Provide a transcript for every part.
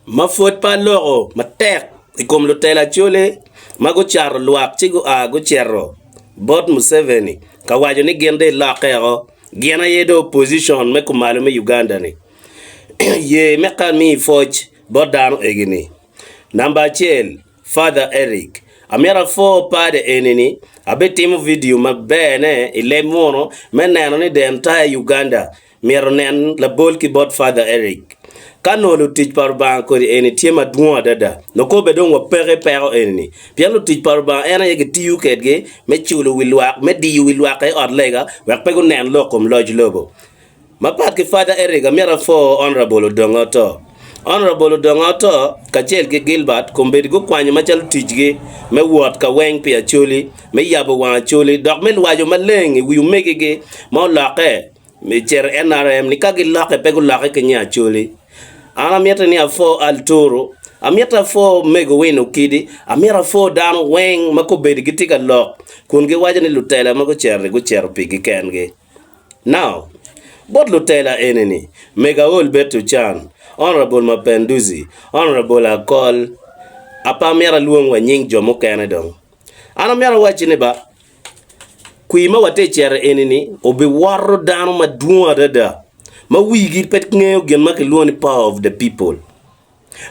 ma pwod pe aloko matek i kom lutela Acholi ma gucato lwak ci gua gucito bot Museveni ka waco ni gin dong ilokke woko, gin aye dong opposition me kumalo me Uganda ni, ye me kami i pwoc bot dano egi ni, namba acel Father Erick amito apwor pade eni ni abitimo video maber ne i leb munu me neno ni the entire Uganda Myero onen labol ki bot Father Eric. Ka nongo lutic pa Rubanga kodi eni tye madwong adada, nongo kobbe dong wapeki peko eni-ni. Pien lutic pa Rubanga en aye gitiyo kedgi me culo wi lwak, me diyo wi lwak aye ot lega wek pe gunen lok kom loc lobo. Mapat ki Father Eric, amyero apwo Honourable Odongo Ato. Honourable Odongo Ato kacel ki Gilbert kombeddi gukwanyo macalo ticgi me wot ka weng pi Acholi, me yabo wang Acholi, dok me lwajo maleng i wi omegigi ma olokke. Me cito i NRM ni ka gilokke pe gulokke ki nya Acholi. An amite ni apho Alturu, amito apho Omego Win Okidi, amito apho dano weng ma kobedi gitye ka lok kun giwaco ni lutela ma gucito-ri gucito pigi kengi. Now, bot lutela eni-ni, Mego Aol Bed Tucan, Honourable Mapenduzi, Honourable Akol, ape amito alwong wa nying jo mukene dong. An amyero awacci ni ba, kwir ma watye cere eni-ni obiwoto dano madwong adada ma wigi pe ngeyo gin ma kilwongo ni power of the people.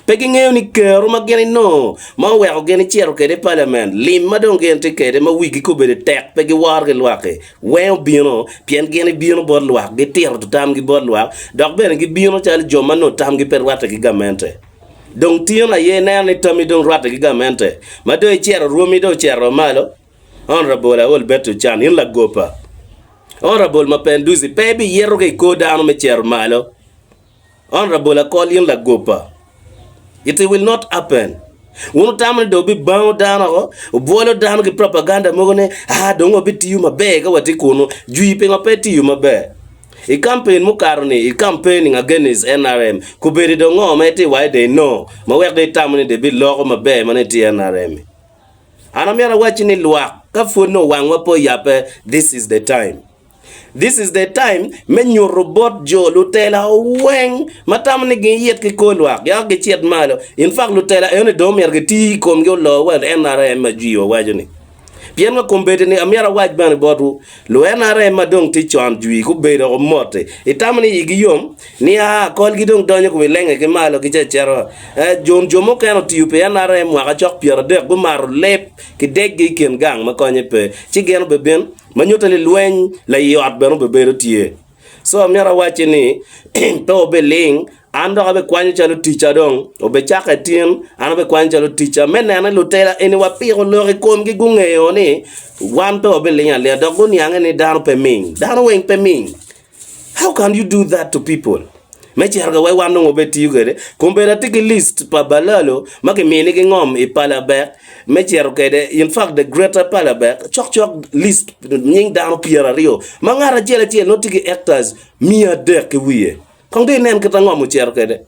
Pe gingeyo ni kero ma gin inongo ma oweko gin icito kwede i paliament, lim ma dong gin tye kwede ma wigi kobedo tek pe giworo ki lwak-ki weng obino pien gin ibino bot lwak gitito tamgi bot lwak dok bene gibino calo jo ma nongo tamgi pe rwatte ki gamente. Dong tingo na aye ineno ni tammi dong rwatte ki gamente ma dong icito rwomi dong ocito malo, Honourable Aol Betty Ochan, in lagopa, Honourable Mapenduzi pe ibiyeto ka i kor dano me cito malo, Honourable Akol in lagopa, it will not happen. Wun wutamo ni dong bibango dano woko, wubwolo dano ki propaganda mogo ni aa dong wabitiyo maber ka watye kunu, jwi pingo pe itiyo maber? I kampen mukato ni i campaigning against nrm kubedi do ngo ma iti wai de i no ma wek do i tamo ni de bi loko maber ma ni ti nrm i. An amito awaci ni lwak ka pwod no wangwa pe oyape this is the time. This is the time me nyutu bot jo lutela weng ma tamo ni gi it ki kor lwak yako gi cit malo in fact lutela eno ni do omyero gi ti i komgi olor wa nrm ma jwi wa waco ni. Pien ma kombeddi-ni amito awac bene botwu, luNRM ma dong tye con jwi gubedo doko mot-ti, itamo ni igi yom? Nia, kolgi dong donyo kun ilenge ki malo ki cecero. Ee, John, jo mukene otiyo pi NRM mwaka cok pyeradek, gumato leb ki deggi i kin gang ma konye pe, ci gin obebin, ma nyutte ni lweny laii ot bene obebedo tye. So amyero awacci ni, Pe wubiling, an dok abikwanyo calo ticca dong. Obicaka i tin, an abikwanyo calo ticca, me neno ni lutela eni wapiko lok i komgi gungeyo ni wan pe wabiling alinga dok guniange ni dano pe ming. Dano weng pe ming. How can you do that to people? Me cito ka wek wan dong wabed tiyo kwede, kombeddi atye ki list pa balalo ma kiminigi ngom i palabek me cito kwede, in fact the greater palabek, cokcok list nying dano pyeraryo ma ngat acel acel nongo tye ki hectares miya adek ki wiye. Kong dong inen kit ango ma wucito kwede.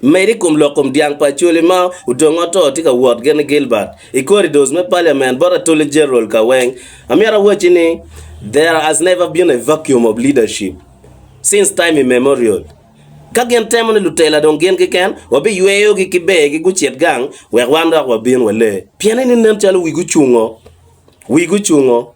Medo i kom lok kom dyang pa Acholi ma odong oto tye ka wot gin i Gilbert i corridors me parliament bot Attorney General ka weng. Amyero awaci ni there has never been a vacuum of leadership since time immemorial. Ka gin temo ni lutela dong gin keken wabiyweyo gi ki ber gi gucit gang wek wan dok wabin walee. Pien eni nen calo wigi ocungo, wigi ocungo.